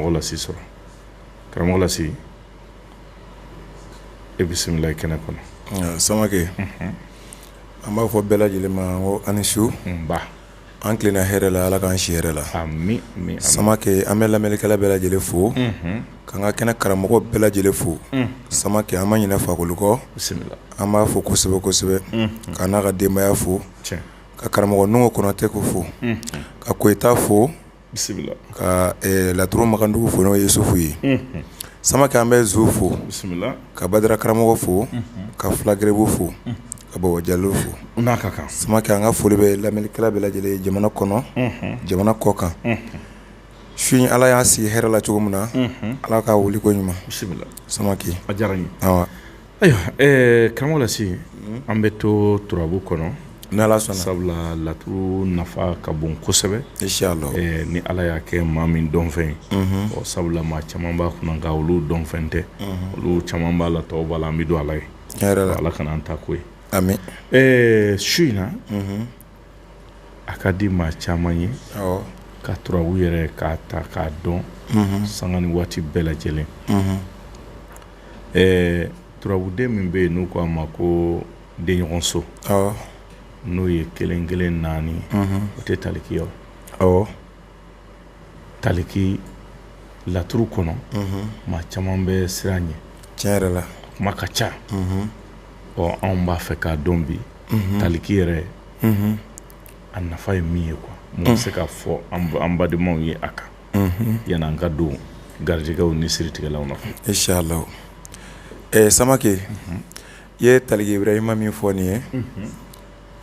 karamɔgɔ lasi sɔrɔ karamɔgɔ lasi e bisimila i kɛnɛ kɔnɔ samakɛ an b'a fɔ bɛɛ lajɛlen ma ko aw ni su nba an tilenna hɛrɛ la ala k'an si hɛrɛ la ami ami samakɛ an bɛ lamɛnlikɛla bɛɛ lajɛlen fo k'an ka kɛnɛ karamɔgɔ bɛɛ lajɛlen fo samakɛ an ma ɲinɛ fakoli kɔ bisimila an b'a fo kosɛbɛ kosɛbɛ k'a n'a ka denbaya fo tiɲɛ ka karamɔgɔ nɔngo konatɛ ko fo ka koyita fo bisimila ka ɛɛ laturu makandugu fo n'o ye Isufu ye, unhun, Samake an bɛ Zo fo, bisimila, ka Badara karamɔgɔ fo, unhun, ka Fula Gɛrɛbu fo, unhun, ka Baba Jalo fo, u n'a ka kan, Samake an ka foli bɛ lamɛnnikɛla bɛɛ lajɛlen ye jamana kɔnɔ, unhun, jamana kɔ kan, unhun, su in Ala y'a sigi hɛrɛ la cogo min na, unhun, Ala k'a wuli koɲuman, bisimila, Samake, a diyara n ye, nba Ayiwa karamɔgɔ lasi an bɛ to turabu kɔnɔ n'ala sɔnna sabula laturu nafa ka bon kosɛbɛ ni ala y'a kɛ maa min dɔnfɛn ye ɔ sabula maa caman b'a kunna nka olu dɔnfɛn tɛ olu caman b'a la tɔgɔba la an bɛ don ala ye ala kana an ta k'o ye su in na a ka di maa caman ye ka turabu yɛrɛ k'a ta k'a dɔn sanga ni waati bɛɛ lajɛlen ɛɛ turabuden min bɛ yen n'u ko a ma ko denɲɔgɔnso n'o ye kelen kelen naani o tɛ taliki ye taliki laturu kɔnɔ maa caman bɛ siran ɲɛ tiɲɛ yɛrɛ la kuma ka ca ɔ anw b'a fɛ k'a dɔn bi taliki yɛrɛ a nafa ye min ye quoi mun bɛ se ka fɔ an badenmaw ye a kan yani an ka don garijɛgɛw ni siritigɛlaw nɔfɛ inshallah samakɛ i ye taliki Ibrahima min fɔ nin ye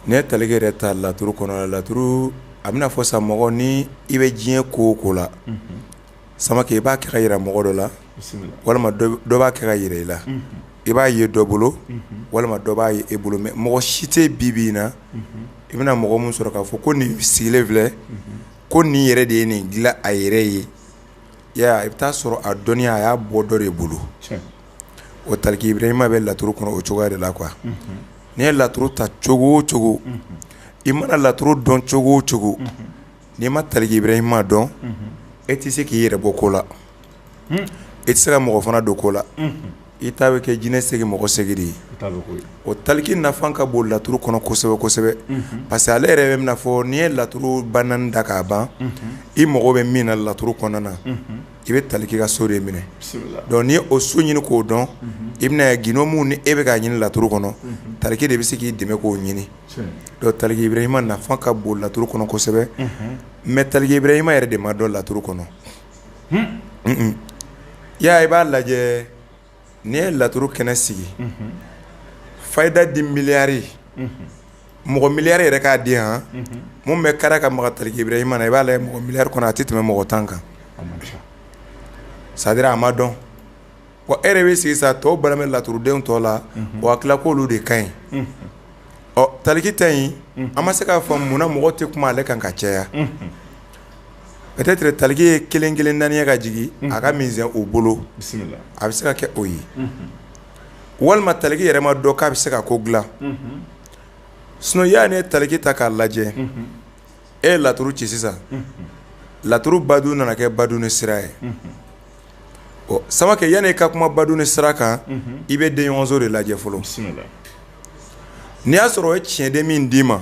N'i ye taliki yɛrɛ ta laturu kɔnɔ laturu a bɛna fɔ sa mɔgɔ ni i bɛ diɲɛ ko o ko la samakɛ i b'a kɛ k'a yira mɔgɔ dɔ la walima dɔ b'a kɛ k'a yira i la i b'a ye dɔ bolo walima dɔ b'a ye e bolo mais mɔgɔ si tɛ bi bi in na i bɛna mɔgɔ min sɔrɔ k'a fɔ ko nin sigilen filɛ ko nin yɛrɛ de ye nin dilan a yɛrɛ ye i bɛ taa sɔrɔ a dɔnniya a y'a bɔ dɔ de bolo o taliki Ibrahima bɛ laturu kɔnɔ o cogoya de la quoi n'i ye laturu ta cogo o cogo i mana laturu dɔn cogo o cogo n'i ma taliki Ibrahima dɔn e tɛ se k'i yɛrɛ bɔ ko la e tɛ se ka mɔgɔ fana don ko la i ta bɛ kɛ jinɛ sɛgɛn mɔgɔ sɛgɛn ye o taliki nafa ka bon laturu kɔnɔ kosɛbɛ kosɛbɛ parce que ale yɛrɛ bɛ fɔ n'i ye laturu ba naani da k'a ban i mago bɛ min na laturu kɔnɔna na i bɛ taliki ka so de minɛ donc n'i ye o so ɲini k'o dɔn i bɛna ye gindo min ni e bɛ k'a ɲini laturu kɔnɔ taliki de bɛ se k'i dɛmɛ k'o ɲini donc taliki Ibrahima nafa ka bon laturu kɔnɔ kosɛbɛ mais taliki Ibrahima yɛrɛ de ma dɔn laturu kɔnɔ i y'a i b'a lajɛ N'i ye laturu kɛnɛ sigi fayida di miliyari mɔgɔ miliyari yɛrɛ k'a di yan mun bɛ kara ka maga taliki Ibrahima na i b'a lajɛ mɔgɔ miliyari kɔnɔ a tɛ tɛmɛ mɔgɔ tan kan c'est-à-dire a ma dɔn e yɛrɛ bɛ sigi sa tɔw bɛ laturudenw tɔw la u hakili la k'olu de ka ɲi ɔ taliki ta ye an ma se k'a fɔ munna mɔgɔ tɛ kuma ale kan ka caya Peut-être taliki ye kelen kelen naani ye ka jigin a ka misɛn u bolo a bɛ se ka kɛ o ye walima taliki yɛrɛ ma dɔn k'a bɛ se ka ko dilan sinon ya n'i ye taliki ta k'a lajɛ e ye laturu ci sisan laturu badu nana kɛ badu ni sira ye ɔ Samake yani i ka kuma badu ni sira kan i bɛ denɲɔgɔnso de lajɛ fɔlɔ n'i y'a sɔrɔ o ye tiɲɛden min d'i ma.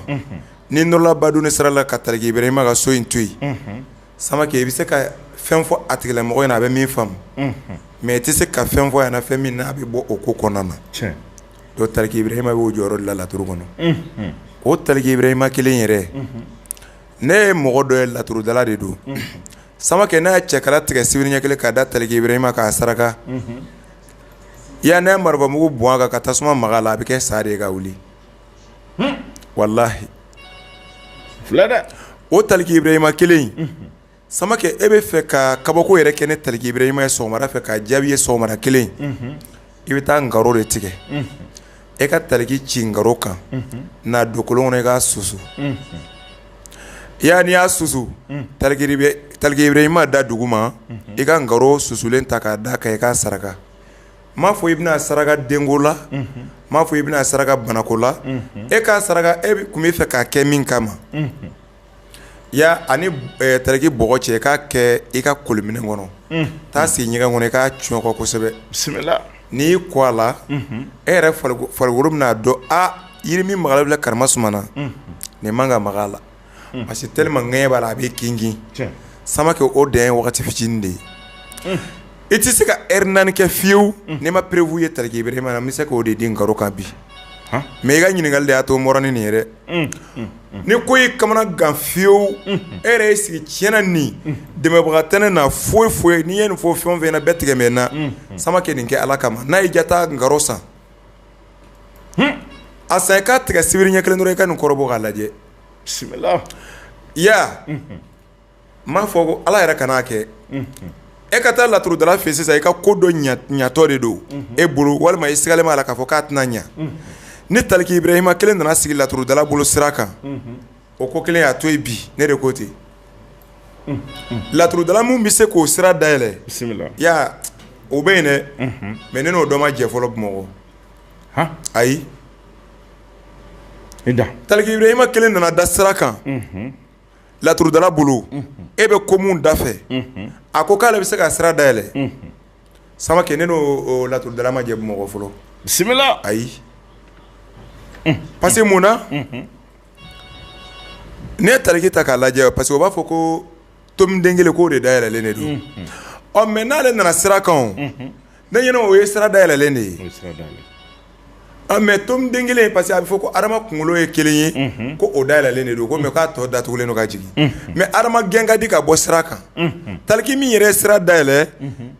N'i nɔrɔla badu ni sira la ka taliki Ibrahima ka so in to yen, unhun, samake i bɛ se ka fɛn fɔ a tigilamɔgɔ ɲɛna a bɛ min faamu, unhun, mais i tɛ se ka fɛn fɔ a ɲɛna fɛn min n'a bɛ bɔ o ko kɔnɔna na, tiɲɛ, donc taliki Ibrahima b'o jɔyɔrɔ de la laturu kɔnɔ, unhun, o taliki Ibrahima kelen in yɛrɛ, unhun, ne ye mɔgɔ dɔ ye laturudala de don, unhun, samake n'a ye cɛkala tigɛ sibiri ɲɛ kelen k'a da taliki Ibrahima kan k'a saraka, unhun, yani n'a ye marifamugu bɔn a kan ka tasuma mag'a la a bɛ kɛ sa de ye ka wuli walahi filɛ dɛ o taliki Ibrahima kelen in samakɛ e bɛ fɛ ka kabako yɛrɛ kɛ ni taliki Ibrahima ye sɔgɔmada fɛ k'a jaabi ye sɔgɔmada kelen i bɛ taa ngaro de tigɛ e ka taliki ci ngaro kan n'a don kolon kɔnɔ i k'a susu ya n'i y'a susu taliki Ibrahima da dugu ma i ka ngaro susulen ta k'a da kan i k'a saraka m'a fɔ i bɛna saraka denko la m'a fɔ i bɛna saraka banako la e k'a saraka e kun bɛ fɛ k'a kɛ min kama ya ani taliki bɔgɔ cɛ k'a kɛ i ka koliminɛn kɔnɔ taa sigi ɲɛgɛn kɔnɔ i k'a cɔnkɔ kosɛbɛ bisimila n'i y'i ko a la e yɛrɛ farikolo bɛn'a dɔn a yiri min magala bila karama sumana nin man ka maga a la parce que tellement ŋɛɲɛ b'a la a bɛ kin kin Samake o dan ye waati fitinin de ye i tɛ se ka heure naani kɛ fiyewu n'i ma preuve ye taliki Ibrahima na n bɛ se k'o de di ngaro kan bi mais i ka ɲininkali de y'a to n bɔra ni nin ye dɛ ni ko y'i kamana gan fiyewu e yɛrɛ y'i sigi tiɲɛna ni dɛmɛbaga tɛ ne na foyi foyi ye n'i ye nin fɔ fɛn o fɛn na bɛɛ tigɛ n na Samake nin kɛ ala kama n'a y'i ja taa ngaro san a san i k'a tigɛ sibiri ɲɛ kelen dɔrɔn i ka nin kɔrɔbɔ k'a lajɛ bisimila ya n m'a fɔ ko ala yɛrɛ kan'a kɛ e ka taa laturudala fɛ sisan i ka ko dɔ ɲatɔ de don e bolo walima i sigalen b'a la k'a fɔ k'a tɛna ɲa ni taliki ibrahima kelen nana sigi laturudala bolo sira kan O ko kelen y'a to yen bi ne de ko ten laturudala min bɛ se k'o sira dayɛlɛ ya o bɛ yen dɛ mɛ ne n'o dɔ ma jɛ fɔlɔ bamakɔ ayi taliki ibrahima kelen nana da sira kan laturudala bolo e bɛ ko min da fɛ a ko k'ale bɛ se ka sira dayɛlɛ samake ne n'o laturudala ma jɛ bamakɔ fɔlɔ bisimila ayi parce que mun na Ne ye taliki ta k'a lajɛ parce que u b'a fɔ ko tomiden kelen k'o de dayɛlɛlen de don ɔ mɛ n'ale nana sira kan ne ɲɛna o ye sira dayɛlɛlen de ye mɛ tomiden kelen parce que a bɛ fɔ ko adama kunkolo ye kelen ye ko o dayɛlɛlen de don ko mɛ k'a tɔ datugulen don ka jigin mɛ adama gɛn ka di ka bɔ sira kan taliki min yɛrɛ ye sira dayɛlɛ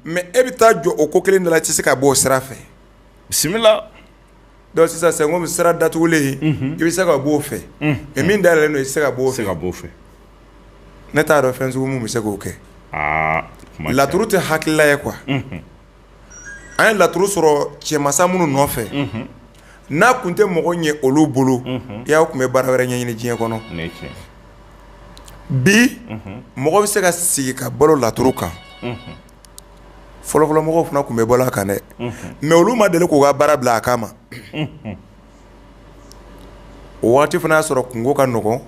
mɛ e bɛ taa jɔ o ko kelen de la i tɛ se ka bɔ o sira fɛ bisimila Donc sisan c'est comme sira datugulen i bɛ se ka bɔ o fɛ mɛ min dayɛlɛlen don i tɛ se ka bɔ o fɛ ne t'a dɔn fɛn sugu min bɛ se k'o kɛ laturu tɛ hakilila ye kuwa an ye laturu sɔrɔ cɛmasa minnu nɔfɛ n'a kun tɛ mɔgɔ ɲɛ olu bolo i y'aw kun bɛ baara wɛrɛ ɲɛɲini diɲɛ kɔnɔ bi mɔgɔ bɛ se ka sigi ka balo laturu kan fɔlɔfɔlɔmɔgɔw fana kun bɛ balo a kan dɛ mɛ olu ma deli k'u ka baara bila a kama o waati fana y'a sɔrɔ kungo ka nɔgɔn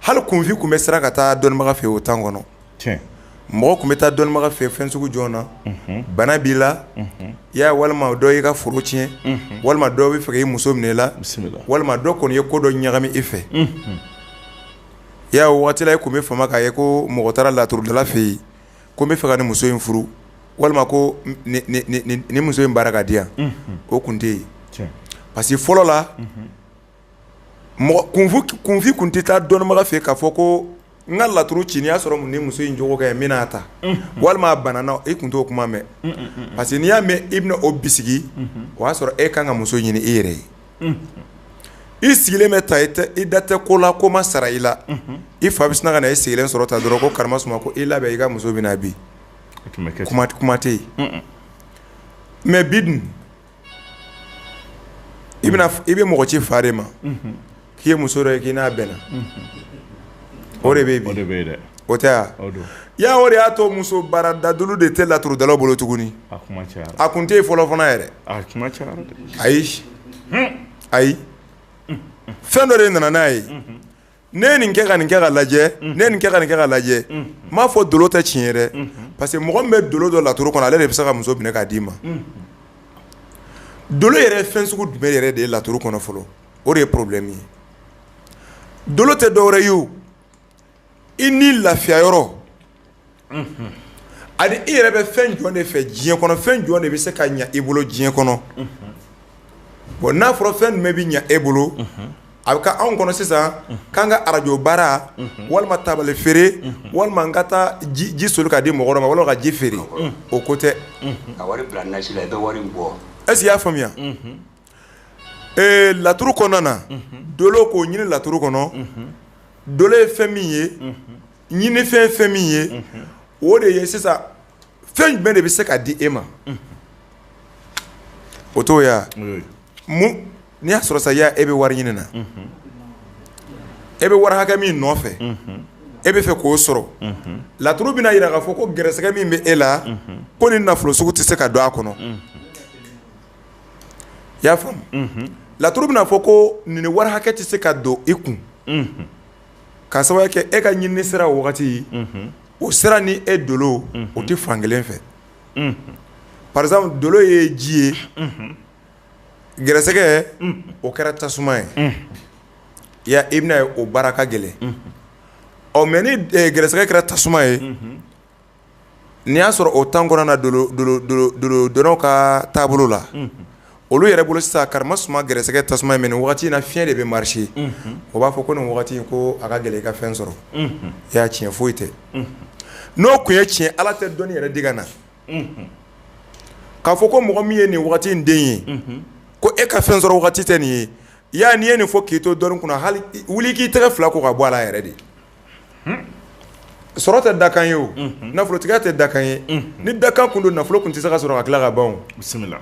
hali kunfin kun bɛ siran ka taa dɔnnibaga fɛ o tan kɔnɔ mɔgɔ kun bɛ taa dɔnnibaga fɛ fɛn sugu jɔn na bana b'i la ya walima dɔ y'i ka foro tiɲɛ walima dɔ bɛ fɛ k'i muso minɛ i la walima dɔ kɔni ye ko dɔ ɲagami i fɛ ya o waati la i kun bɛ fama k'a ye ko mɔgɔ taara laturudala fɛ yen ko n bɛ fɛ ka nin muso in furu walima ko nin muso in baara k'a di yan o kun tɛ yen parce que fɔlɔ la kunfin kun tɛ taa dɔnnibaga fɛ k'a fɔ ko n ka laturu ci n'i y'a sɔrɔ ni muso in jogo ka ɲi n bɛn'a ta walima a banana i kun t'o kuma mɛn parce que n'i y'a mɛn i bɛna o bisigi o y'a sɔrɔ e ka kan ka muso ɲini e yɛrɛ ye i sigilen bɛ ta i da tɛ ko la ko ma sara i la i fa bɛ sina ka na i sigilen sɔrɔ ta dɔrɔn ko karama suma ko i labɛn i ka muso bɛna bi kuma tɛ yen mɛ bi dun i i bɛ mɔgɔ ci fa de ma k'i ye muso dɔ ye k'i n'a bɛnna o de bɛ yen o tɛ yan o de y'a to muso baara dadulu de tɛ laturu dala bolo tuguni a kun tɛ yen fɔlɔ fana yɛrɛ ayi fɛn dɔ de nana n'a ye ne ye nin kɛ ka nin kɛ ka lajɛ ne ye nin kɛ ka nin kɛ ka lajɛ n m'a fɔ dolo tɛ tiɲɛ ye dɛ parce que mɔgɔ min bɛ dolo dɔn laturu kɔnɔ ale de bɛ se ka muso minɛ k'a d'i ma dolo yɛrɛ ye fɛn sugu jumɛn yɛrɛ de ye laturu kɔnɔ fɔlɔ o de ye problème ye dolo tɛ dɔwɛrɛ ye o i ni lafiya yɔrɔ ani i yɛrɛ bɛ fɛn jɔn de fɛ diɲɛ kɔnɔ fɛn jɔn de bɛ se ka ɲɛ i bolo diɲɛ kɔnɔ bon n'a fɔra fɛn jumɛn bɛ ɲɛ e bolo a bɛ kɛ anw kɔnɔ sisan k'an ka arajo baara walima tabale feere walima n ka taa ji soli k'a di mɔgɔ dɔ ma wala ka ji feere o ko tɛ est-ce que i y'a faamuya Ee laturu kɔnɔna na dolo k'o ɲini laturu kɔnɔ dolo ye fɛn min ye ɲini fɛn fɛn min ye o de ye sisan fɛn jumɛn de bɛ se ka di e ma o to ye mun n'i y'a sɔrɔ sa e bɛ wari ɲini na e bɛ wari hakɛ min nɔfɛ e bɛ fɛ k'o sɔrɔ laturu bɛna yira k'a fɔ ko gɛrɛsɛgɛ min bɛ e la ko ni nafolo sugu tɛ se ka don a kɔnɔ i y'a faamu laturu bɛna fɔ ko nin wari hakɛ tɛ se ka don i kun k'a sababu kɛ e ka ɲinini sira o wagati o sira ni e dolo o tɛ fan kelen fɛ par exemple dolo ye ji ye gɛrɛsɛgɛ o kɛra tasuma ye i i bɛna ye o baara ka gɛlɛn ɔ mais ni gɛrɛsɛgɛ kɛra tasuma ye n'i y'a sɔrɔ o temps kɔnɔna na dolo dɔnnaw ka taabolo la olu yɛrɛ bolo sisan kara suma gɛrɛsɛgɛ tasuma ye mais nin wagati in na fiɲɛ de bɛ marcher o b'a fɔ ko nin wagati in ko a ka gɛlɛn i ka fɛn sɔrɔ i y'a tiɲɛ foyi tɛ n'o kun ye tiɲɛ ala tɛ dɔnni yɛrɛ di ka na k'a fɔ ko mɔgɔ min ye nin wagati in den ye ko e ka fɛn sɔrɔ wagati tɛ nin ye ya n'i ye nin fɔ k'i to dɔnni kɔnɔ hali wuli k'i tɛgɛ fila ko ka bɔ a la yɛrɛ de sɔrɔ tɛ dakan ye o nafolotigiya tɛ dakan ye ni dakan kun don nafolo kun tɛ se ka sɔrɔ ka tila ka ban bisimila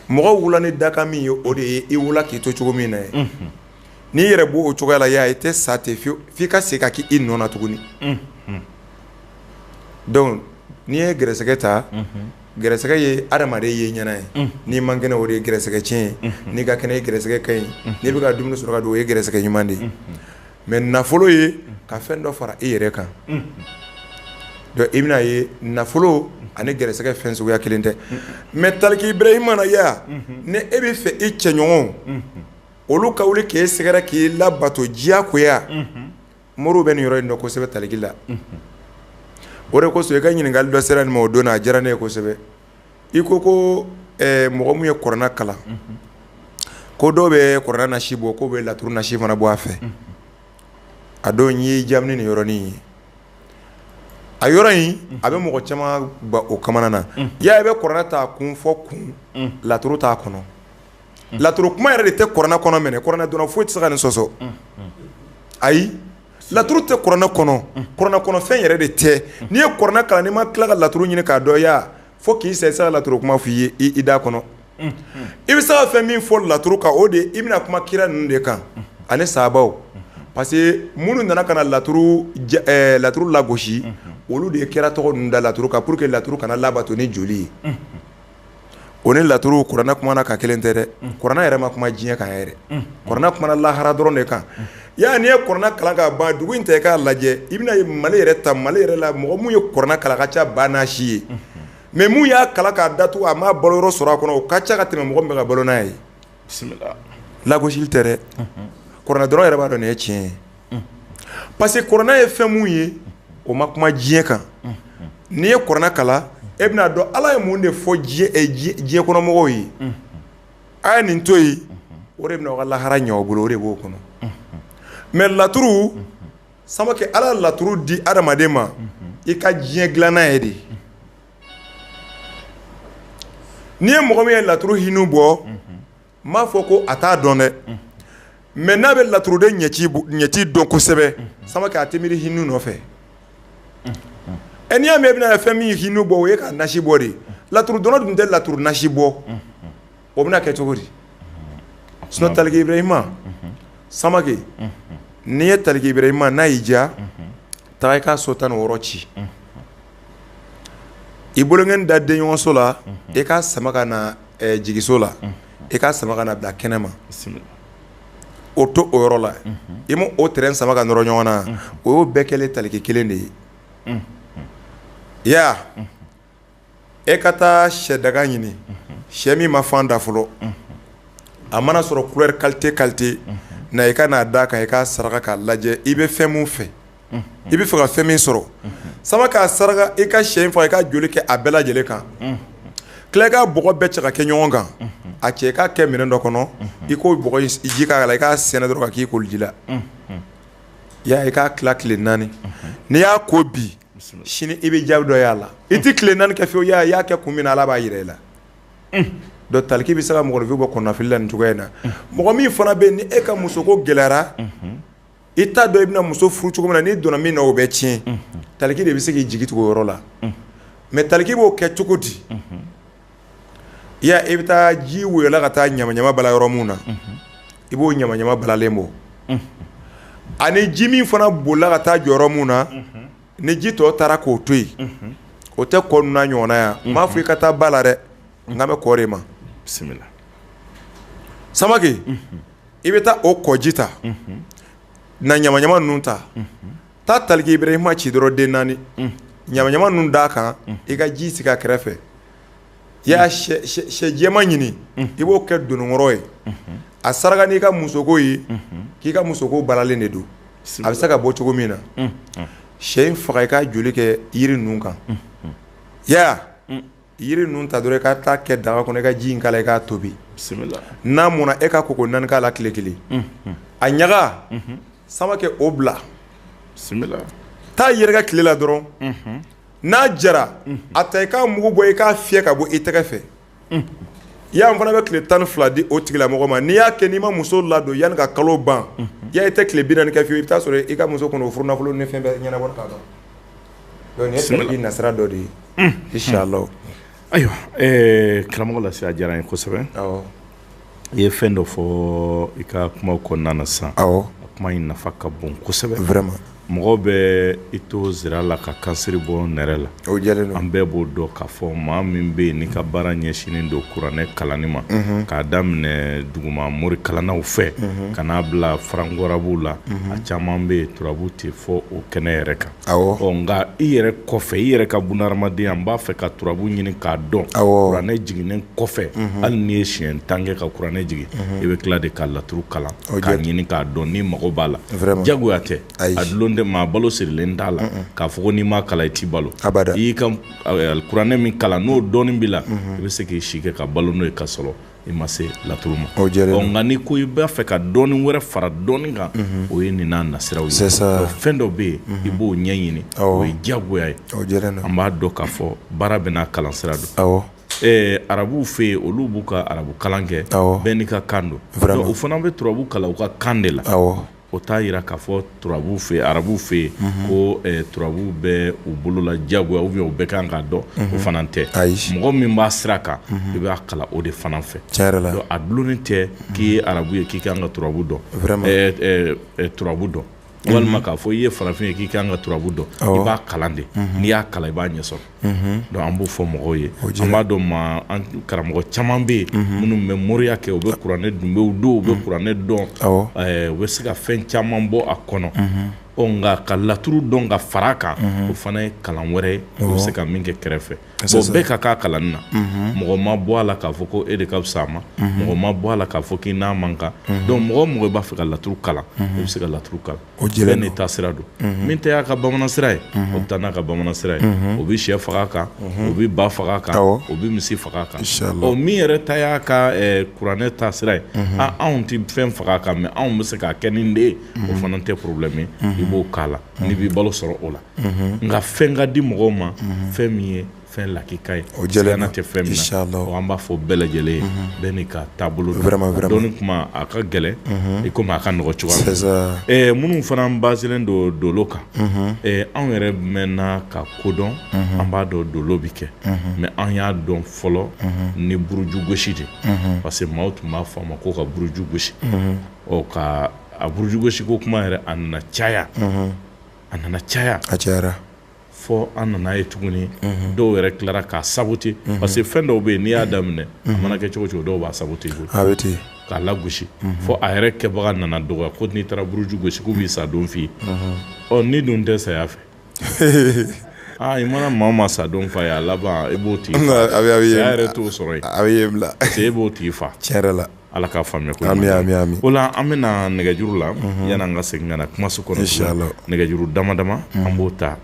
mɔgɔ wolola ni dakan min ye o de ye i wolola k'i to cogo min na ye n'i yɛrɛ bɔ o cogoya la y'a ye i tɛ sa ten f'i ka segin ka k' i nɔ na tuguni donc n'i ye gɛrɛsɛgɛ ta gɛrɛsɛgɛ ye adamaden ye ɲɛna ye n'i man kɛnɛ o ye gɛrɛsɛgɛ cɛn ye n'i ka kɛnɛ gɛrɛsɛgɛ ka ɲi n'i bɛ ka dumuni sɔrɔ ka dun o ye gɛrɛsɛgɛ ɲuman de ye mais nafolo ye ka fɛn dɔ fara e yɛrɛ kan donc i bɛna ye nafolo ani gɛrɛsɛgɛ fɛn suguya kelen tɛ mais taliki Ibrahima na ya ni e bɛ fɛ e cɛɲɔgɔn olu ka wuli k'i sɛgɛrɛ k'i labato diyagoya moriw bɛ nin yɔrɔ in dɔn kosɛbɛ taliki la o de kosɔn i ka ɲininkali dɔ sera nin ma o don na a diyara ne ye kosɛbɛ i ko ko mɔgɔ min ye kuranɛ kalan ko dɔw bɛ kuranɛ nasi bɔ k'o bɛ laturu nasi fana bɔ a fɛ a don y'i jaabi nin yɔrɔnin ye a yɔrɔ in a bɛ mɔgɔ camanba o kamanagan ya i bɛ kuranɛ ta kun fo kun laturu t'a kɔnɔ laturu kuma yɛrɛ de tɛ kuranɛ kɔnɔ minɛ kuranɛ dɔnna foyi tɛ se ka nin sɔsɔ ayi laturu tɛ kuranɛ kɔnɔ kuranɛ kɔnɔ fɛn yɛrɛ de tɛ n'i ye kuranɛ kalan n'i ma tila ka laturu ɲini k'a dɔn ya fo k'i sa i tɛ se ka laturu kuma f'i ye i da kɔnɔ i bɛ se ka fɛn min fɔ laturu kan o de ye i bɛna kuma kira ninnu de kan ani sahabaw parce que minnu nana ka na laturu ja ɛɛ laturu lagosi olu de ye kira tɔgɔ ninnu da laturu kan pour que laturu kana labato ni joli ye. o ni laturu kuranɛ kumana ka kelen tɛ dɛ kuranɛ yɛrɛ ma kuma diɲɛ kan yɛrɛ kuranɛ kumana lahara dɔrɔn de kan ya n'i ye kuranɛ kalan ka ban dugu in ta i k'a lajɛ i bɛna ye mali yɛrɛ ta mali yɛrɛ la mɔgɔ min ye kuranɛ kalan ka ca ba n'a si ye mais min y'a kalan k'a datugu a ma balo yɔrɔ sɔrɔ a kɔnɔ o ka ca ka tɛmɛ mɔgɔ min bɛ ka balo n'a ye bisimila lagosili tɛ dɛ kuranɛ dɔnna yɛrɛ b'a dɔn nin ye tiɲɛ ye parce que kuranɛ ye fɛn min ye o ma kuma diɲɛ kan n'i ye kuranɛ kalan e bɛna a dɔn ala ye mun de fɔ diɲɛ kɔnɔmɔgɔw ye a ye nin to yen o de bɛna o ka lahara ɲɛ o bolo o de b'o kɔnɔ mais laturu Samake ala laturu di adamaden ma i ka diɲɛ dilanna ye de n'i ye mɔgɔ min ye laturu hinu bɔ n m'a fɔ ko a t'a dɔn dɛ mais n'a bɛ laturuden ɲɛci dɔn kosɛbɛ Samake a tɛ miiri hinu nɔfɛ ɛ n'i y'a mɛn i bɛna fɛn min hinu bɔ o ye k'a nasi bɔ de laturu dɔnna dun tɛ laturu nasi bɔ o bɛna kɛ cogo di sinon Taliki Ibrahima Samake n'i ye Taliki Ibrahima n'a y'i diya taa i ka so 16 ci. i bolonkɔni da denɲɔgɔnso la e ka sama ka na jigiso la e ka sama ka na bila kɛnɛ ma o to o yɔrɔ la i ma o terrain sama ka nɔrɔ ɲɔgɔn na o y'o bɛɛ kɛlen taliki kelen de ye ya e ka taa sɛ daga ɲini sɛ min ma fan da fɔlɔ a mana sɔrɔ couleur qualité qualité na i ka n'a da kan i ka saraka k'a lajɛ i bɛ fɛn min fɛ i b'a fɛ ka fɛn min sɔrɔ samakɛ a saraka i ka shɛ in faga i k'a joli kɛ a bɛɛ lajɛlen kan tila ka bɔgɔ bɛɛ cɛ ka kɛ ɲɔgɔn kan a cɛ ka kɛ minɛn dɔ kɔnɔ i k'o ji k'a la i k'a sɛnɛ dɔrɔn ka k'i koliji la yaya i k'a tila tile naani n'i y'a ko bi sini i bɛ jaabi dɔ y'a la i tɛ tile naani kɛ fiyewu i y'a kɛ kun min na ala b'a jira i la donc taliki bɛ se ka mɔgɔninfin bɔ kɔnɔnafili la nin cogoya in na mɔgɔ min fana bɛ yen ni e ka musoko gɛlɛyara i t'a dɔn i bɛna muso furu cogo min na n'i donna min na o bɛ tiɲɛ taliki de bɛ se k'i jigi tugu o yɔrɔ la mais taliki b'o kɛ cogo di yaya i bɛ taa ji woyola ka taa ɲama ɲama bala yɔrɔ minnu na i b'o ɲama ɲama balalen bɔ ani ji min fana bolila ka taa jɔ yɔrɔ minnu na ni ji tɔ taara k'o to yen o tɛ kɔ ninnu n'a ɲɔgɔnna yan n m'a fɔ i ka taa ba la dɛ n kan bɛ kɔ de ma bisimila samakɛ i bɛ taa o kɔji ta n'a ɲama ɲama ninnu ta taa taliki ibrahima ci dɔrɔn den naani ɲama ɲama ninnu d'a kan i ka ji sigi a kɛrɛfɛ yaya shɛ jɛman ɲini i b'o kɛ dononkɔrɔ ye a saraka n'i ka musoko ye k'i ka musoko balalen de don a bɛ se ka bɔ cogo min na shɛ in faga i k'a joli kɛ yiri ninnu kan yaya Yiri ninnu ta dɔrɔn ka taa kɛ daga kɔnɔ ka ji in k'a la i k'a tobi n'a mɔna e ka ko ko naani k'a la tile kelen a ɲaga samakɛ o bila taa yɛrɛkɛ tile la dɔrɔn n'a jara a ta i k'a mugu bɔ i k'a fiyɛ ka bɔ i tɛgɛ fɛ yaya an fana bɛ tile tan ni fila di o tigilamɔgɔ ma n'i y'a kɛ n'i ma muso ladon yanni ka kalo ban yaya i tɛ tile binani kɛ fiyewu i bɛ t'a sɔrɔ i ka musoko n'o furunafolo ni fɛn bɛɛ ɲɛna Ye nasira dɔ de ye inshallah ayiwa karamɔgɔ lasi a diyara n ye kosɛbɛ i ye fɛn dɔ fɔ i ka kuma kɔnɔna na sisan a kuma in nafa ka bon kosɛbɛ vraiment mɔgɔ bɛ i to zira la ka kansiri bɔ nɛrɛ la an bɛɛ b'o dɔn k'a fɔ maa min bɛ yen n'i ka baara ɲɛsinnen don kuranɛ kalanni ma k'a daminɛ duguma mori kalannaw fɛ ka n'a bila farankarabuw la a caman bɛ yen turabu tɛ fɔ o kɛnɛ yɛrɛ kan nka i yɛrɛ kɔfɛ i yɛrɛ ka bunahadamadenya n b'a fɛ ka turabu ɲini k'a dɔn kuranɛ jiginnen kɔfɛ hali n'i ye siɲɛ tan kɛ ka kuranɛ jigin i bɛ tila de ka laturu kalan k'a ɲini k'a dɔn n'i mago b'a la jagoya tɛ a dulon tɛ maa balo sirilen t'a la k'a fɔ ko n'i m'a kalan i t'i balo i y'i ka kuranɛ min kalan n'o dɔnni b'i la i bɛ se k'i si kɛ ka balo n'o ye ka sɔrɔ i ma se laturu ma o diyara ɔ nka n'i ko i b'a fɛ ka dɔnni wɛrɛ fara dɔnni kan mhm. o ye nin n'a nasiraw ye fɛn dɔ bɛ yen mhm. i b'o ɲɛɲini o ye diyagoya ye an b'a dɔn k'a fɔ baara bɛɛ n'a kalan sira don ɛɛ arabuw fɛ yen olu b'u ka arabu kalan kɛ bɛɛ n'i ka kan don o fana bɛ turabu kalan u ka kan de la o t'a yira k'a fɔ turabu fɛ arabuw fɛ yen mhm. ko eh, turabu bɛ u bolo la diyagoya ou bien u bɛɛ kan k'a dɔn o mhm. fana tɛ mɔgɔ min b'a sira kan mhm. i b'a kalan o de fana fɛ a dulonnen tɛ k'i ye arabu ye k'i kan ka turabu dɔn eh, eh, turabu dɔn walima k'a fɔ i ye farafin ye k'i kan ka turabu dɔn i b'a kalan de n'i y'a kalan i b'a ɲɛ sɔrɔ donc an b'o fɔ mɔgɔw ye an b'a dɔn ma an karamɔgɔ caman bɛ yen minnu bɛ moriya kɛ u bɛ kuranɛ dɔn u don u bɛ kuranɛ dɔn u bɛ se ka fɛn caman bɔ a kɔnɔ nka ka laturu dɔn ka fara kan o fana ye kalan wɛrɛ ye u bɛ se ka min kɛ kɛrɛfɛ bɛɛ ka kan kalanni na mɔgɔ ma bɔ a la k'a fɔ ko e de ka fisa a ma mɔgɔ ma bɔ a la k'a fɔ k'i n'a man kan donc mɔgɔ o mɔgɔ b'a fɛ ka laturu kalan i bɛ se ka laturu kalan O bɛɛ n'i ta sira don min ta y'a ka bamanan sira ye o taa n'a ka bamanan sira ye o bɛ shɛ faga kan o bɛ ba faga kan o bɛ misi faga kan min yɛrɛ ta y'a ka kuranɛ ta sira ye aa anw tɛ fɛn faga kan mɛ anw bɛ se k'a kɛ nin de ye o fana tɛ problème ye i b'o k'a la n'i b'i balo sɔrɔ o la nka fɛn ka di mɔgɔw ma fɛn min ye fɛn lakika ye o jɛlɛna tɛ fɛn min na o an b'a fɔ bɛɛ lajɛlen ye mhm. bɛɛ n'i ka taabolo dɔnni kuma a ka gɛlɛn mhm. i komi a ka nɔgɔ cogoya minnu fana basilen don dolo kan mhm. anw yɛrɛ mɛnna ka ko dɔn an b'a dɔn dolo bɛ kɛ mɛ an y'a dɔn fɔlɔ ni buruju gosi de parce que maaw tun b'a fɔ a ma ko ka buruju gosi ɔ ka a buruju gosi ko kuma yɛrɛ a nana caya a nana caya a cayara fɔ an nana ye tuguni dɔw yɛrɛ tilara k'a saboter parce que fɛn dɔw bɛ yen n'i y'a daminɛ a mana kɛ cogo o cogo dɔw b'a saboter koyi a bɛ ten k'a lagosi fɔ a yɛrɛ kɛbaga nana dɔgɔya ko n'i taara buruju gosi k'u b'i sa don f'i ye ɔ n'i dun tɛ saya fɛ aa i mana maa o maa sa don f'a ye a laban e b'o tigi fa a bɛ a bɛ ye saya yɛrɛ t'o sɔrɔ yen a bɛ ye bila parce que e b'o tigi fa tiɲɛ yɛrɛ la ala k'a faamuya ko amiina ɲuman. amiina amiina o la an bɛna nɛgɛjuru la yanni an ka segin ka na kumaso kɔnɔ Inshallah. nɛgɛjuru dama dama an b'o ta